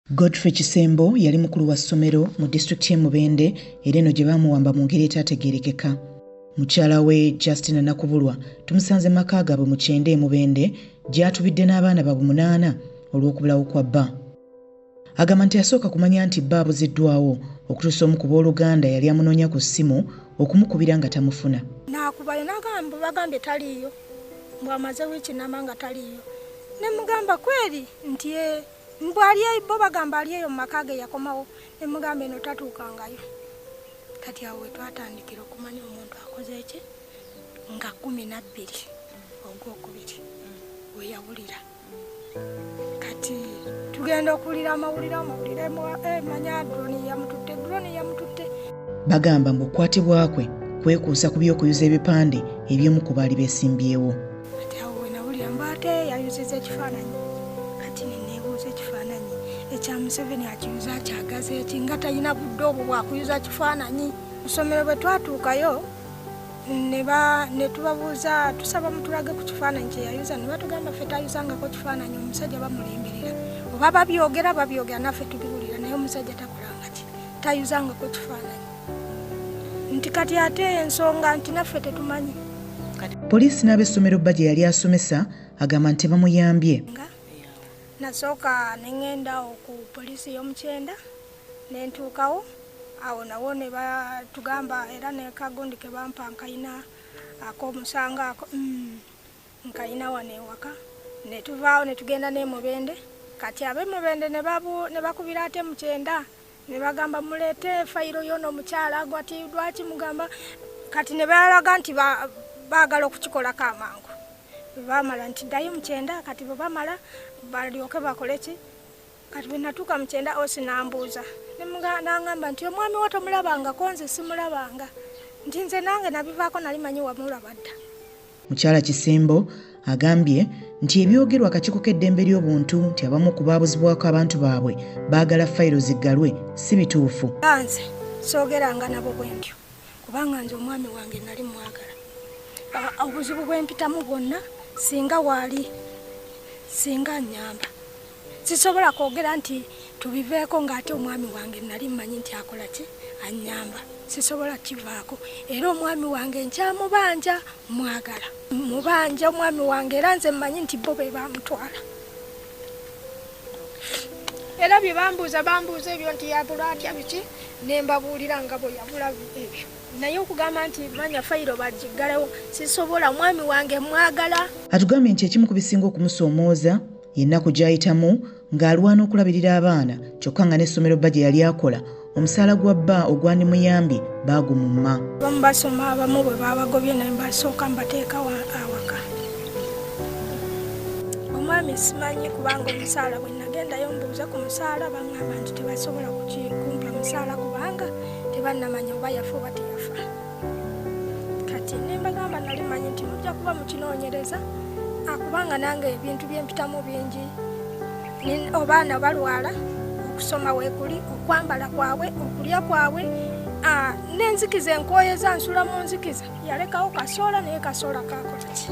Godfrey Kisembo yali mukulu wa ssomero mu disitulikiti y'e Mubende era eno gye baamuwamba mu ngeri etaategeerekeka. Mukyala we Justina Nakubulwa tumusanze mu maka gaabwe mu Kyende e Mubende gy'atubidde n'abaana baabwe munaana olw'okubulawo kwa bba. Agamba nti yasooka kumanya nti bba abuziddwawo okutuusa omu ku booluganda yali amunoonya ku ssimu okumukubira nga tamufuna. Nakubayo nagamba bagambye taliiyo mbu amaze wiiki nama nga taliiyo ne mugamba kweri nti e mbu ali eyo bo bagamba ali eyo mu maka ge yakomawo ne mugamba eno tatuukangayo kati awo wetwatandikira okumanya omuntu akoze eki nga kumi nabbiri ogwokubiri weyawulira kati tugenda okuwulira amawulire amawulire eh, manya droni yamututte droni yamututte bagamba mbu okukwatibwa kwe kwekuusa ku by'okuyuza ebipande eby'omu ku baali besimbyewo kati awo wenawulira mba ate yayuziza ekifaananyi kati neneebuuza ekifaananyi ekya museveni akiyuza akyagaza eki nga talina budde obwo bwakuyuza kifaananyi kusomero bwe twatuukayo ne tubabuuza tusaba mutulage ku kifaananyi kye yayuza ne batugamba ffe tayuzangako kifaananyi omusajja bamulemberera oba babyogera babyogera naffe tubiwulira naye omusajja takolanga ki tayuzangako kifaananyi nti kati ate ensonga nti naffe tetumanyi poliisi n'abessomero bba gye yali asomesa agamba nti bamuyambye nasooka ne ŋenda oku poliisi y'omukyenda nentuukawo awo nawo ne batugamba era ne kagundi ke bampa nkayina ak'omusango ako mm, nkayina wano ewaka ne tuvaawo ne tugenda n'emubende kati ab'emubende ne bakubira ate mu kyenda ne bagamba muleete fayiro yoona omukyala gwati lwaki mugamba kati ne balaga nti baagala okukikolako amangu bamala nti ddayo mu kyenda kati bwe bamala balyoke bakole ki kati bwe natuuka mu kyenda osi nambuuza nangamba nti omwami wo tomulabangako nze simulabanga nti nze nange nabivaako nali manyi wamulaba dda mukyala kisembo agambye nti ebyogerwa akakiiko k'eddembe ly'obuntu nti abamu ku baabuzibwako abantu baabwe baagala fayiro ziggalwe si bituufu nze soogeranga nabo bwe ntyo kubanga nze omwami wange nali mwagala obuzibu bwempitamu bwonna singa waali singa nyamba sisobola kwogera nti tubiveeko ng'ate omwami wange nali mmanyi nti akola ki annyamba sisobola kivaako era omwami wange nkyamubanja mwagala mubanja omwami wange era nze mmanyi nti bo be bamutwala era bye bambuuza bambuuza ebyo nti yabula atya biki ne mbabuulira nga bwe yabula ebyo naye okugamba nti manya fayiro bagiggalewo sisobola omwami wange mwagala atugambye nti ekimu ku bisinga okumusomooza yennaku gy'ayitamu ng'alwana okulabirira abaana kyokka nga n'essomero bba gye yali akola omusaala gwa bba ogwandimuyambye baagumumma abamu basoma abamu bwe baabagobye naye mbasooka mbateeka awaka omwami simanyi kubanga omusaala bwe nagendayo mbuuza ku musaala bangamba nti tebasobola kukumpa musaala kubanga tebannamanya oba yafa oba teyafa kati nembagamba nali manyi nti mujja kuba mukinoonyereza akubanga nange ebintu byempitamu bingi obaana balwala okusoma wekuli okwambala kwabwe okulya kwabwe nenzikiza enkoyeza nsula mu nzikiza yalekawo kasoola naye kasoola kakolaki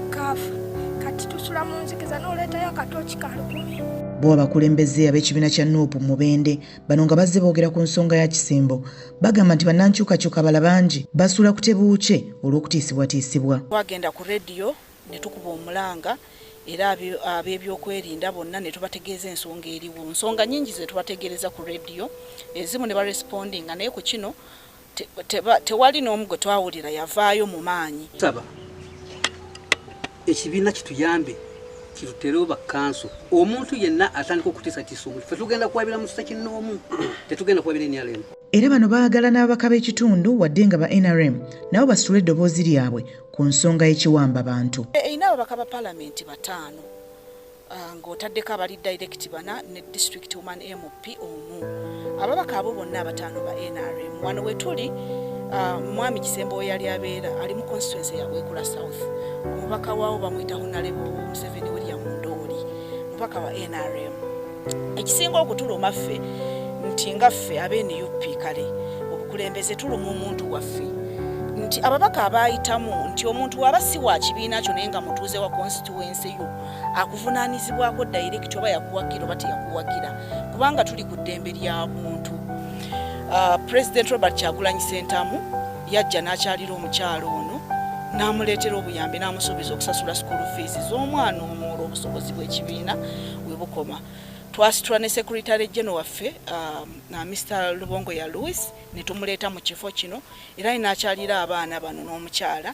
kaafa kati tusula mu nzikiza noleetayo akatooki kalukumi bo abakulembeze ab'ekibiina kya nup mubende Bano nga bazze boogera ku nsonga ya Kisimbo bagamba nti bannankyukakyuka bala bangi basuula ku tebuukye olw'okutiisibwatiisibwa. Twagenda ku rediyo ne tukuba omulanga era ab'ebyokwerinda bonna ne tubategeeza ensonga eriwo. Nsonga nyingi ze tubategeereza ku rediyo ezimu ne barespondinga naye ku kino tewali n'omu gwe twawulira yavaayo mu maanyi. Tusaba ekibiina kituyambe kituterewo bakkanso omuntu yenna atandika okutiisa tiisa omuntu fe tugenda kuwabira mu kisa kinnoomu tetugenda kuwabira nrm era bano baagala n'ababaka b'ekitundu wadde nga ba nrm nabo basitule eddoboozi lyabwe ku nsonga y'ekiwamba bantu erina ababaka ba palamenti bataano Ah, ng'otaddeko abali direct bana ne district woman mp omu ababaka abo bonna abataano ba nrm wano wetuli ah, mwami kisembo weyali abeera ali mu constituency ya bwekula south omubaka waawo bamuyita honalebo museveni william ndooli mubaka wa nrm ekisinga okutuluma ffe nti nga ffe abenup kale obukulembeze tuluma omuntu waffe nti ababaka abayitamu nti omuntu waba si wa kibiina kyo naye nga mutuuze wa constituency yo akuvunaanyizibwako dayirekiti oba yakuwagira oba teyakuwagira kubanga tuli ku ddembe lya buntu ah, pulezidenti robert kyagulanyi sentamu yajja n'akyalira omukyalo ono n'amuleetera obuyambi n'amusuubiza okusasula sukulu fiizi z'omwana omu olw'obusobozi bw'ekibiina we bukoma twasitula ne sekuritale geno waffe um, na mr lubongo ya louis ne tumuleeta mu kifo kino era inakyalira abaana bano n'omukyala